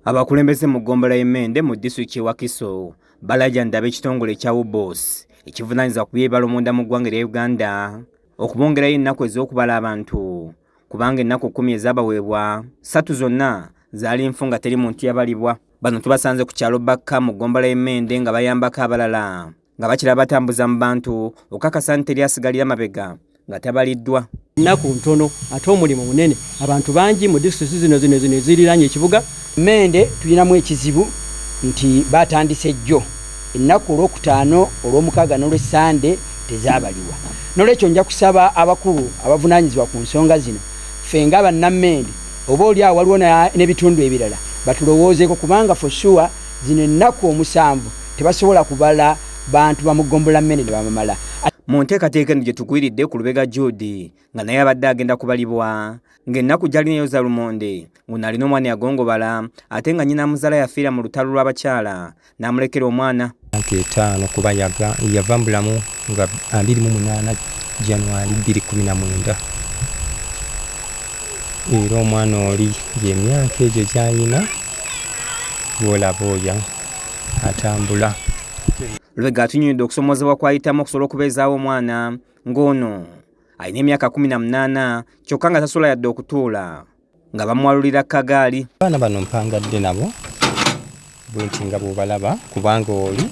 Abakulembeze mu ggombolola y'e Mende mu disitulikiti y'e Wakiso balajanidde ab'ekitongole ekya UBOS ekivunaanyizibwa ku by'ebibalo munda mu ggwanga erya Uganda okubongerayo ennaku ez'okubala abantu kubanga ennaku kkumi ezaabaweebwa ssatu zonna zaali nfu nga teri muntu yabalibwa. Bano tubasanze ku kyalo Bakka mu ggombolola y'e Mende nga bayambako abalala nga bakira batambuza mu bantu okakasa nti teri asigalira mabega nga tabaliddwa nnaku ntono ate omulimu munene abantu bangi mu disitulikiti zino zino zino eziriranye ekibuga mende tulinamu ekizibu nti batandise jjo ennaku olwokutaano olwomukaaga nolwesande tezabaliwa nolwekyo nja kusaba abakulu abavunanyizibwa ku nsonga zino ffe nga bannammendi oba oli awo waliwo n'ebitundu ebirala batulowoozeko kubanga fosua zino ennaku omusanvu tebasobola kubala bantu bamugombola mmene ne bamamala mu nteekateeka eno gye tugwiridde ku lubega jude nga naye abadde agenda kubalibwa ng'ennaku gyali nayo za lumonde nguno alina omwana yagongobala ate nga nyina muzala yafiira mu lutalo lw'abakyala n'amulekera omwana myaka etaano kuba yava mu bulamu nga 28 januari 219 era omwana oli gyemyaka egyo gyayina gwolaba oyo atambula lubega atunyonyodde okusomozebwa kwayitamu okusobola okubeezaawo omwana ng'ono alina emyaka kumi na munaana kyokka nga tasobola yadde okutuula nga bamuwalulira kagaali abaana bano mpangadde nabo bwenti nga bwobalaba kubanga oli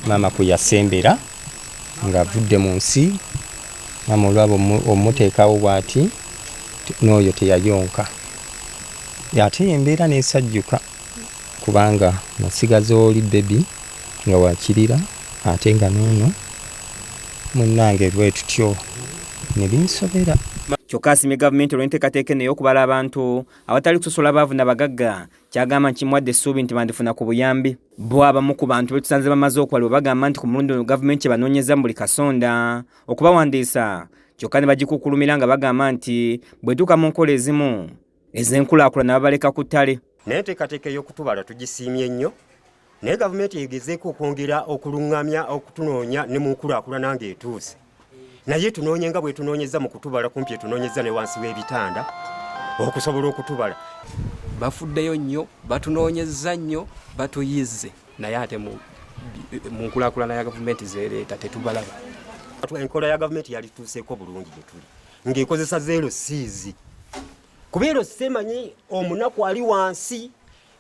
maama kwe yasembera ng'avudde mu nsi maama olwaba omuteekawo bwati n'oyo teyayonka ate embeera n'esajjuka kubanga masiga zoli baby nga wakirira ate nga nono munange lwetutyo nebinsobera kyokka asimye gavumenti olw'enteekateeka eno ey'okubala abantu awatali kusosola baavu na bagagga kyagamba nti kimwadde essuubi nti bandifuna ku buyambi bo abamu ku bantu betusanze bamaze okuwalibwa bagamba nti ku mulundi ono gavumenti ebanoonyeza mu buli kasonda okubawandiisa kyokka ne bagikukkulumira nga bagamba nti bwetuuka mu nkola ezimu ez'enkulaakulana babaleka ku ttale naye enteekateeka ey'okutubala tugisiimye nnyo naye gavumenti egezeeko okwongera okuluŋŋamya okutunoonya ne mu nkulaakulana ng'etuuse naye tunoonye nga bwetunoonyeza mu kutubala kumpi etunoonyeza ne wansi w'ebitanda okusobola okutubala bafuddeyo nnyo batunoonyezza nnyo batuyizze naye ate mu nkulakulana ya gavumenti zereeta tetubalaba enkola ya gavumenti yalituuseeko bulungi gyetuli ng'ekozesa zeero siizi kuba ero semanyi omunaku ali wansi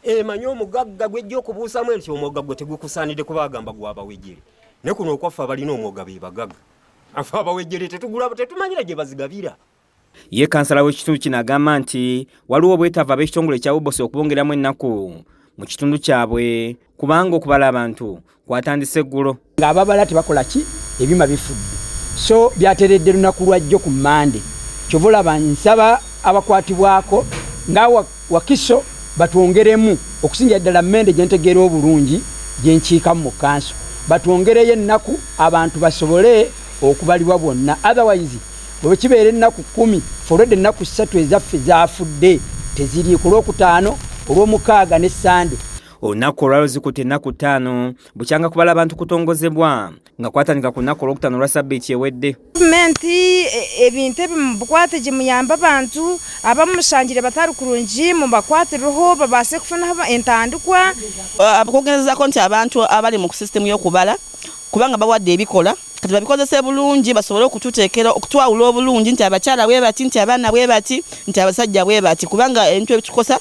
emanyi omugagga gwejja okubuusamu enti omwoga gwe tegukusaanidde kuba agamba gwabawejere ne kuno okwaffe abalina omwoga be bagagga afe abawejere tetugula tetumanyira gye bazigabira ye kansala w'ekitundu kino agamba nti waliwo obwetaavu ab'ekitongole ekya ubosi okubongeramu ennaku mu kitundu kyabwe kubanga okubala abantu kwatandise eggulo ng'ababala tebakola ki ebyuma bifudde so byateredde lunaku lwajjo ku mande kyova olaba nsaba abakwatibwako nga wakiso batwongeremu okusingira ddala mende gyentegeera obulungi gyenkiikamu mu kanso batwongereyo ennaku abantu basobole okubalibwa bwonna otherwise bwekibeera ennaku kumi folwedde ennaku ssatu ezaffe zafudde teziriiku olwokutaano olwomukaaga ne sande olunaku olwaluzikuta ennaku ttaano bukyanga kubala abantu kutongozebwa nga kwatandika ku lunaku olwokutaano olwa sabbiiti ewedde gavumenti e, ebintu ebi mubukwate gye muyamba abantu abamushangire batari kurungi mubakwatireho babaase kufunaho entandikwa abakugerezaako nti abantu abali mu sisitemu y'okubala kubanga bawadde ebikola kati babikozese bulungi basobole okututeekera okutwawula obulungi nti abakyala bwe bati nti abaana bwe bati nti abasajja bwe bati kubanga ebintu ebitukosa